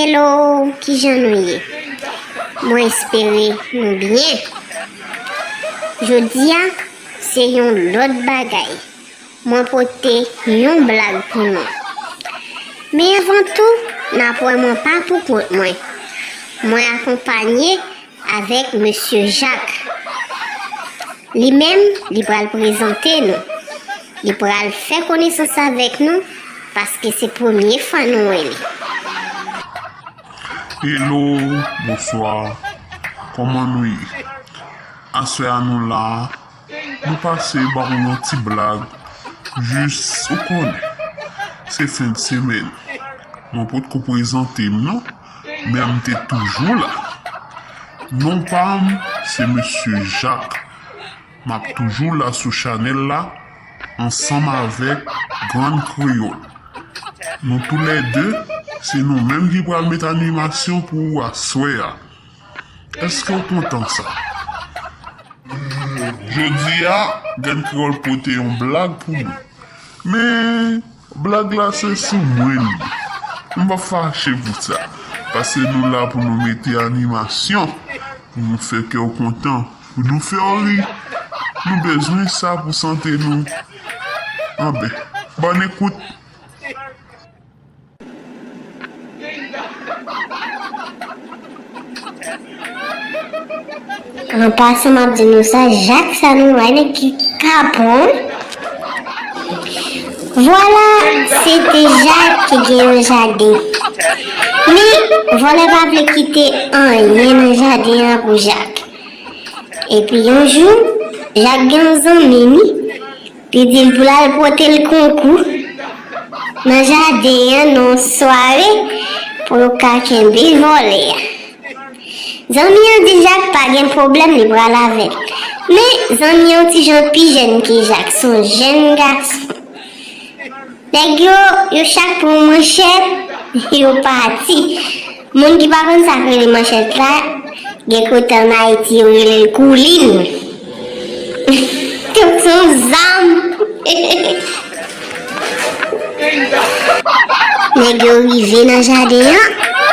Hello, ki jan nou ye? Mwen espere nou byen. Jodi a, se yon lòt bagay. Mwen pote yon blag pou nou. Men anvan tou, n ap wè mwen pa pou kont mwen. Mwen akonpanye avèk Mesye Jak. Li menm, li pral prezante nou. Li pral fè konesans avèk nou paske se premye fwa nou wè li. Hello, bonswa, kòman nou ye? Aswè a nou la Nou pase ba w yon ti blag jis ou konnen se fen de semèn mwen potko prezante m non men m te toujou la non pa m se mesye Jak m ap toujou la sou chanèl la ansanm avèk grann kreyòl nou tou lè de se nou menm ki pral met animasyon pou aswè a. Èske w kontan sa? Jodi a, Grann Kreyòl pote yon blag pou nou. Men, blag la se sou mwen li ye. M p ap fache pou sa, pase nou la pou nou mete animasyon, pou nou fè kè w kontan, pou nou fè w ri. Nou bezwen sa pou sante nou. Anben, bòn ekout! An pasan map di nou sa jak sa nou wè nèg ki kapon vwala se te jak ki gen yon jaden men vòlè pa vle kite anyen nan jaden an pou jak epi yon jou jak gen yon zanmi ni Li di l pou l al pote l konkou nan jaden an nan yon sware pou yo ka kenbe vòlè a. Zanmi an di Jak pa gen pwoblèm li pral avè l. Men, zanmi an yon ti jan pi jèn ke Jak, se yon jèn gason. Nèg yo, yo chak pran manchèt, yo pati. Moun ki pa konn sak rele manchèt la gen kote an Ayiti yo relel koulin donk se yon zam nèg yo rive nan jaden an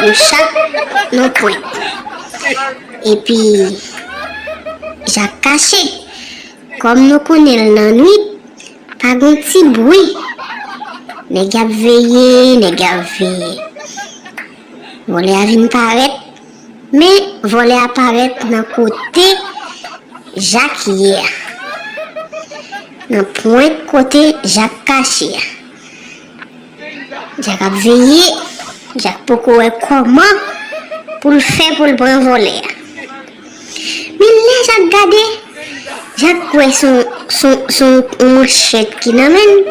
yo chak nan pwent epi jak kache kòm nou konnenl nan nwit Pa gen ti bwi. Nèg y ap veye, nèg y ap veye. Vòlè a vin parèt. Men, vòlè a parèt nan kote Jak ye a. Nan pwent kote Jak kache a. Jack ap veye, Jack poko wè kòman pou l fè pou l pran vòlè a. Men lè Jack gade, Jack wè son yon manchèt ki nan men l,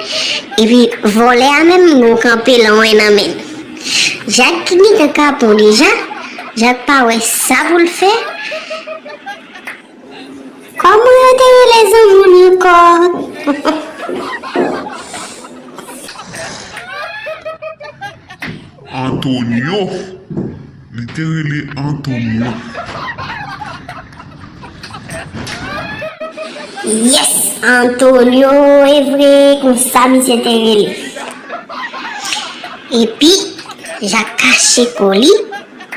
epi vòlè a menm gen yon kanpe lwen nan men l. Jack ki gentan kapon deja, Jack pa wè sa pou l fè. Koman yo te rele zanmann anko. Antonio Li te rele Antonio. Yes Antonio evre konsa misye te rele. Epi Jak kache ko li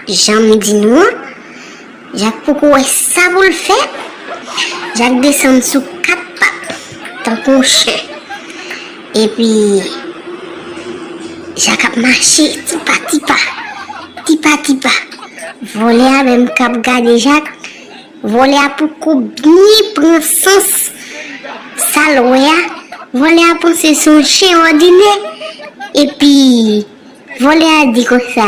janm di nou an. Jak poko wè sa pou l fè. Jak desann sou kat pat tankou yon chen. Epi, Jak ap mache ti pa ti pa. Ti pa ti pa. Vòlè a menm k ap gade Jak, vòlè a poko byen pran sans sa l wè a. Vòlè a panse se yon chen òdinè. Epi, vòlè a di konsa.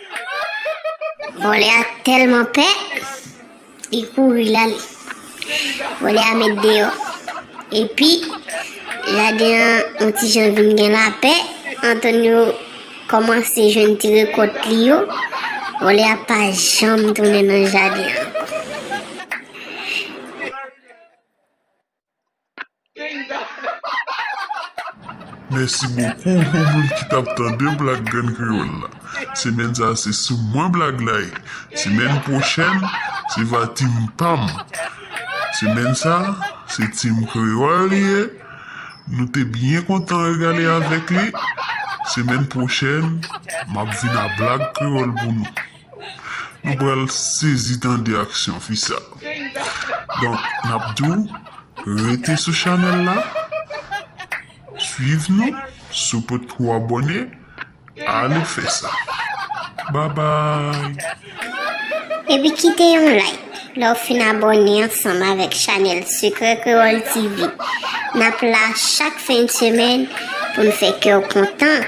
Vòlè a tèlman pè, li kouri lal. Vòlè a met deyò. Epi, jaden an yon ti jan vin gen lapè, Antonio kòmanse jwenn ti rekòt li yo, vòlè a pa janm tounen nan jaden an ankò. Mèsi bokou pou moun ki tap tande blag grenn kreyòl la semèn sa se sou mwen blag la ye semèn pwochèn se va team pam semèn sa se team kreyòl li ye nou te byen kontan regale avèk li semèn pwochèn map vin a blag kreyòl pou nou. Nou pral sezi tande aksyon fi sa. Donk nap di w rete sou chanèl la swiv nou si w potko abòne ale fè sa babay. Epi kite yon like lè w fin abòne ansanm avèk chanèl Sekrè Kreyòl TV. Nap la chak fen de semèn pou n fè kè w kontan.